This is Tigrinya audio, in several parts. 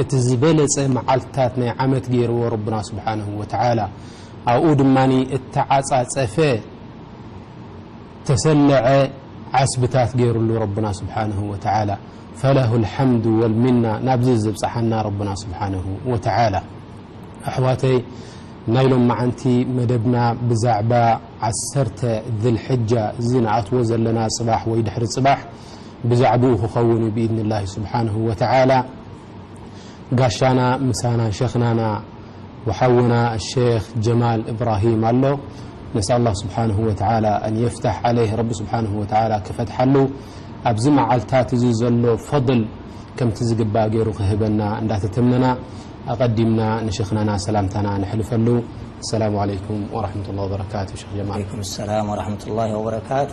እቲ ዝበለጸ መዓልትታት ናይ ዓመት ገይርዎ ረቡና ስብሓነሁ ወተዓላ፣ ኣብኡ ድማ እተዓጻጸፈ እተሰለዐ ዓስብታት ገይርሉ ረቡና ስብሓነሁ ወተዓላ፣ ፈለሁል ሓምዱ ወልሚና ናብዚ ዘብጽሓና ረቡና ስብሓነሁ ወተዓላ። ኣሕዋተይ ናይ ሎምዓንቲ መደብና ብዛዕባ ዓሰርተ ዚልሕጃ እዚ ንኣትዎ ዘለና ጽባሕ ወይ ድሕሪ ጽባሕ፣ ብዛዕብኡ ክኸውን እዩ ብኢድኒላሂ ሱብሓነሁ ወተዓላ። ጋሻና ምሳና ሸኽናና ወሓውና ኣሸኽ ጀማል እብራሂም ኣሎ። ነስኣል ላህ ሱብሓነሁ ወተዓላ ኣን የፍታሕ ዓለይህ ረቢ ሱብሓነሁ ወተዓላ ክፈትሓሉ ኣብዚ መዓልታት እዚ ዘሎ ፈድል ከምቲ ዝግባእ ገይሩ ክህበና እንዳተተመና ኣቐዲምና ንሸኽናና ሰላምታና ነሕልፈሉ። ኣሰላሙ ዓለይኩም ወረሕመቱላሂ ወበረካቱ ሸኽ ጀማል። ዓለይኩም ሰላም ወረሕመቱላሂ ወበረካቱ።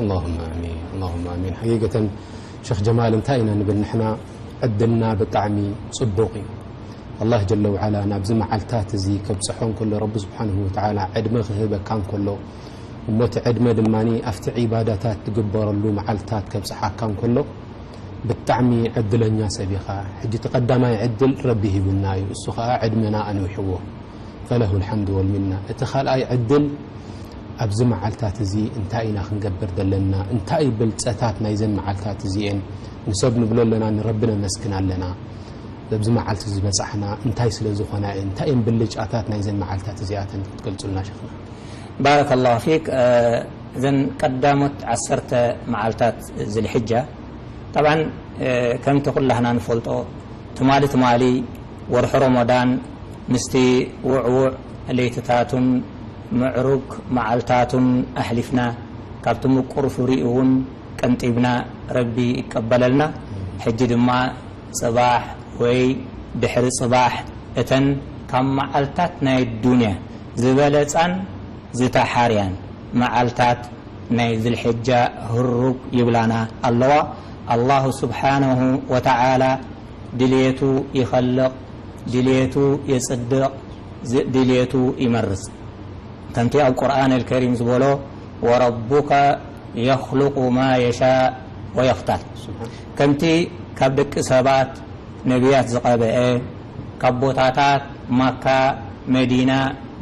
ኣላሁመ ኣሚን ኣላሁመ ኣሚን ሓቂቀተን ሸኽ ጀማል እንታይ ኢና ንብል ንሕና ዕድልና ብጣዕሚ ጽቡቕ እዩ ኣላህ ጀለ ውዓላ ናብዚ መዓልታት እዚ ከብጽሖ እንከሎ ረቢ ስብሓንሁ ወተዓላ ዕድመ ክህበካ እንከሎ እሞቲ ዕድመ ድማ ኣብቲ ዒባዳታት ትግበረሉ መዓልታት ከብጽሓካ እንከሎ ብጣዕሚ ዕድለኛ ሰብ ኢኻ ሕጂ እቲ ቀዳማይ ዕድል ረቢ ሂቡና እዩ እሱ ኸዓ ዕድመና ኣንዊሕዎ ፈለሁ ልሓምድ ወልሚና። እቲ ካልኣይ ዕድል ኣብዚ መዓልታት እዚ እንታይ ኢና ክንገብር ዘለና? እንታይ እዩ ብልጸታት ናይዘን መዓልታት እዚኤን? ንሰብ ንብሎ ኣለና ንረቢ ነመስግን ኣለና። በብዚ መዓልቲ ዝበጻሕና እንታይ ስለ ዝኾና እየን? እንታይ እየን ብልጫታት ናይዘን መዓልታት እዚኣተን ክትገልጹልና ሸኽና? ባረከ ላሁ ፊክ እዘን ቀዳሞት ዓሰርተ መዓልታት ዝልሕጃ ጠብዓን ከምቲ ኩላህና ንፈልጦ ትማሊ ትማሊ ወርሒ ሮሞዳን ምስቲ ውዕዉዕ ለይትታቱን ምዕሩግ መዓልታቱን ኣሕሊፍና ካብቲ ምቁር ፍሪኡ ውን ቀንጢብና ረቢ ይቀበለልና ሕጂ ድማ ጽባሕ ወይ ድሕሪ ጽባሕ እተን ካብ መዓልታት ናይ ኣዱንያ ዝበለጻን ዝተሓርያን መዓልታት ናይ ዝልሕጃ ህሩግ ይብላና ኣለዋ ኣላሁ ስብሓነሁ ወተዓላ ድልየቱ ይኸልቕ፣ ድልየቱ የጽድቕ፣ ድልየቱ ይመርጽ። ከምቲ ኣብ ቁርኣን ኣልከሪም ዝበሎ ወረቡከ የኽሉቁ ማ የሻእ ወየኽታር ከምቲ ካብ ደቂ ሰባት ነብያት ዝቐበኤ፣ ካብ ቦታታት ማካ፣ መዲና፣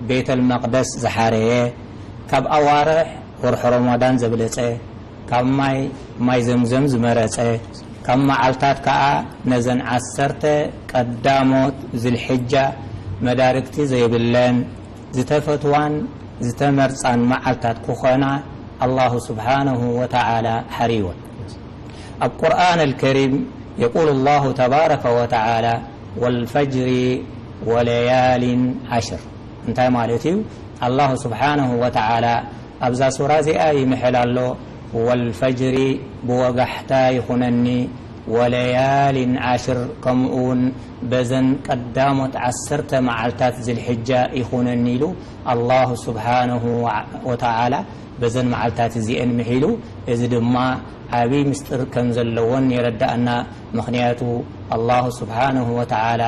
ቤተልመቅደስ ዝሓረየ፣ ካብ ኣዋርሕ ወርሒ ሮሞዳን ዘብለጸ፣ ካብ ማይ ማይ ዘምዘም ዝመረጸ ካብ መዓልታት ከኣ ነዘን ዓሰርተ ቀዳሞት ዝልሕጃ መዳርግቲ ዘይብለን ዝተፈትዋን ዝተመርጻን መዓልታት ክኾና ኣላሁ ስብሓነሁ ወተዓላ ሓርይወን ኣብ ቁርኣን ኣልከሪም የቁሉ ኣላሁ ተባረከ ወተዓላ ወልፈጅሪ ወለያሊን ዓሽር እንታይ ማለት እዩ ኣላሁ ስብሓነሁ ወተዓላ ኣብዛ ሱራ እዚኣ ይምሕል ኣሎ ወልፈጅሪ ብወጋሕታ ይኹነኒ ወለያሊን ዓሽር ከምኡ ውን በዘን ቀዳሞት ዓሰርተ መዓልታት ዝልሕጃ ይኹነኒ ኢሉ ኣላሁ ሱብሓነሁ ወተዓላ በዘን መዓልታት እዚኤን ምሒሉ እዚ ድማ ዓብይ ምስጢር ከም ዘለወን የረደኣና ምኽንያቱ ኣላሁ ሱብሓነሁ ወተዓላ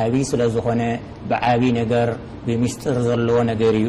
ዓብይ ስለ ዝኾነ ብዓብይ ነገር ብምስጢር ዘለዎ ነገር እዩ።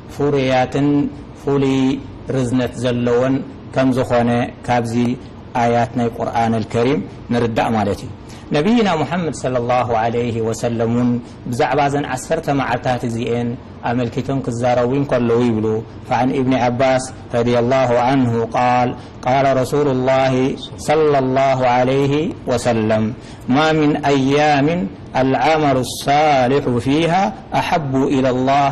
ፍሩያትን ፍሉይ ርዝነት ዘለዎን ከም ዝኾነ ካብዚ ኣያት ናይ ቁርኣን ኣልከሪም ንርዳእ ማለት እዩ። ነብይና ሙሓመድ ሰለሏሁ ዓለይሂ ወሰለም እውን ብዛዕባ እዘን ዓሰርተ መዓልታት እዚኤን ኣመልኪቶም ክዛረቡ እንከለዉ ይብሉ፣ ፈዐን ኢብኒ ዓባስ ረዲየሏሁ ዐንሁ ቃል፣ ቃለ ረሱሉሏሂ ሰለሏሁ ዓለይሂ ወሰለም፣ ማ ሚን ኣያሚን ኣልዐመሉ ሷሊሑ ፊሃ ኣሐቡ ኢለሏህ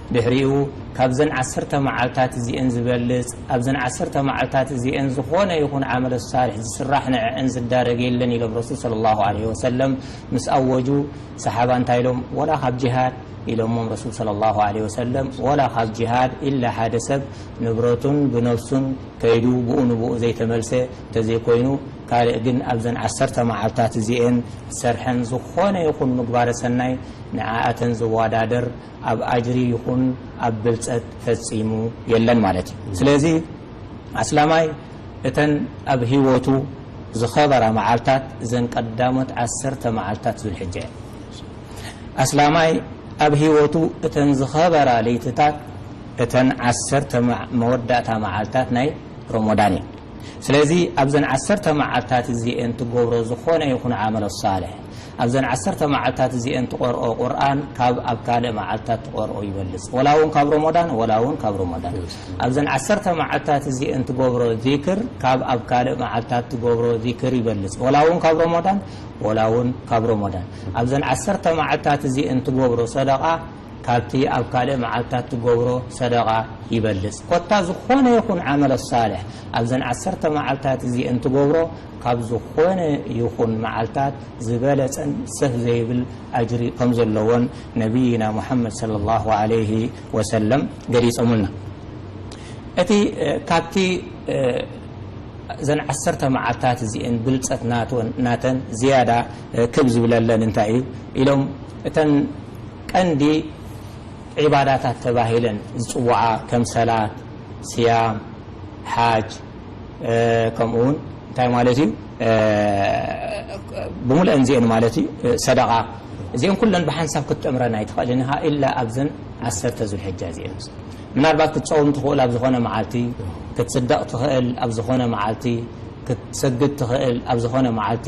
ድሕሪኡ ካብዘን ዓሰርተ መዓልታት እዚኤን ዝበልጽ ኣብዘን ዓሰርተ መዓልታት እዚኤን ዝኾነ ይኹን ዓመለ ሷልሕ ዝስራሕ ንዐዐን ዝዳረግ የለን ኢሎም ረሱል ሰለሏሁ ዓለይሂ ወሰለም ምስ ኣወጁ ሰሓባ እንታይ ኢሎም ወላ ካብ ጂሃድ ኢሎሞም ረሱል ሰለሏሁ ዓለይሂ ወሰለም ወላ ካብ ጂሃድ ኢላ ሓደ ሰብ ንብረቱን ብነፍሱን ከይዱ ብኡ ንብኡ ዘይተመልሰ ተዘይኮይኑ ካልእ ግን ኣብዘን ዓሰርተ መዓልታት እዚኤን ዝሰርሐን ዝኾነ ይኹን ምግባረ ሰናይ ንዐኣተን ዝዋዳደር ኣብ ኣጅሪ ይኹን ኣብ ብልጸት ፈጺሙ የለን ማለት እዩ። ስለዚ ኣስላማይ እተን ኣብ ህይወቱ ዝኸበራ መዓልታት እዘን ቀዳሞት ዓሰርተ መዓልታት ዙልሕጃ እየን። ኣስላማይ ኣብ ህይወቱ እተን ዝኸበራ ለይትታት እተን ዓሰርተ መወዳእታ መዓልታት ናይ ሮሞዳን እየን። ስለዚ ኣብዘን ዓሰርተ መዓልታት እዚኤን ትገብሮ ዝኾነ ይኹን ዓመለ ሷልሕ ኣብዘን ዓሰርተ መዓልታት እዚኤን ትቐርኦ ቁርኣን ካብ ኣብ ካልእ መዓልታት ትቐርኦ ይበልጽ ወላ ውን ካብ ሮሞዳን ወላ ውን ካብ ሮሞዳን ኣብዘን ዓሰርተ መዓልታት እዚኤን ትገብሮ ዚክር ካብ ኣብ ካልእ መዓልታት ትገብሮ ዚክር ይበልጽ ወላ ውን ካብ ሮሞዳን ወላ ውን ካብ ሮሞዳን ኣብዘን ዓሰርተ መዓልታት እዚኤን ትገብሮ ሰደቓ ካብቲ ኣብ ካልእ መዓልትታት ትገብሮ ሰደቓ ይበልጽ። ኮታ ዝኾነ ይኹን ዓመለ ሳልሕ ኣብዘን ዓሰርተ መዓልትታት እዚኤን ትገብሮ ካብ ዝኾነ ይኹን መዓልትታት ዝበለጸን ሰፍ ዘይብል ኣጅሪ ከም ዘለዎን ነብይና ሙሓመድ ሰለላሁ ዓለይሂ ወሰለም ገሊጾምልና። እቲ ካብቲ እዘን ዓሰርተ መዓልትታት እዚኤን ብልጸት ናተን ዝያዳ ክብ ዝብለለን እንታይ እዩ ኢሎም እተን ቀንዲ ዒባዳታት ተባሂለን ዝፅውዓ ከም ሰላት፣ ስያም፣ ሓጅ ከምኡ እውን እንታይ ማለት እዩ ብሙሉአን እዚኤን ማለት እዩ ሰደቓ እዚኤን ኩለን ብሓንሳብ ክትጥምረን ኣይትኽእልን ኢኻ ኢላ ኣብዘን ዓሰርተ ዙልሕጃ እዚኤን ምናልባት ክትፀውም ትኽእል ኣብ ዝኾነ መዓልቲ ክትፅደቕ ትኽእል ኣብ ዝኾነ መዓልቲ ክትሰግድ ትኽእል ኣብ ዝኾነ መዓልቲ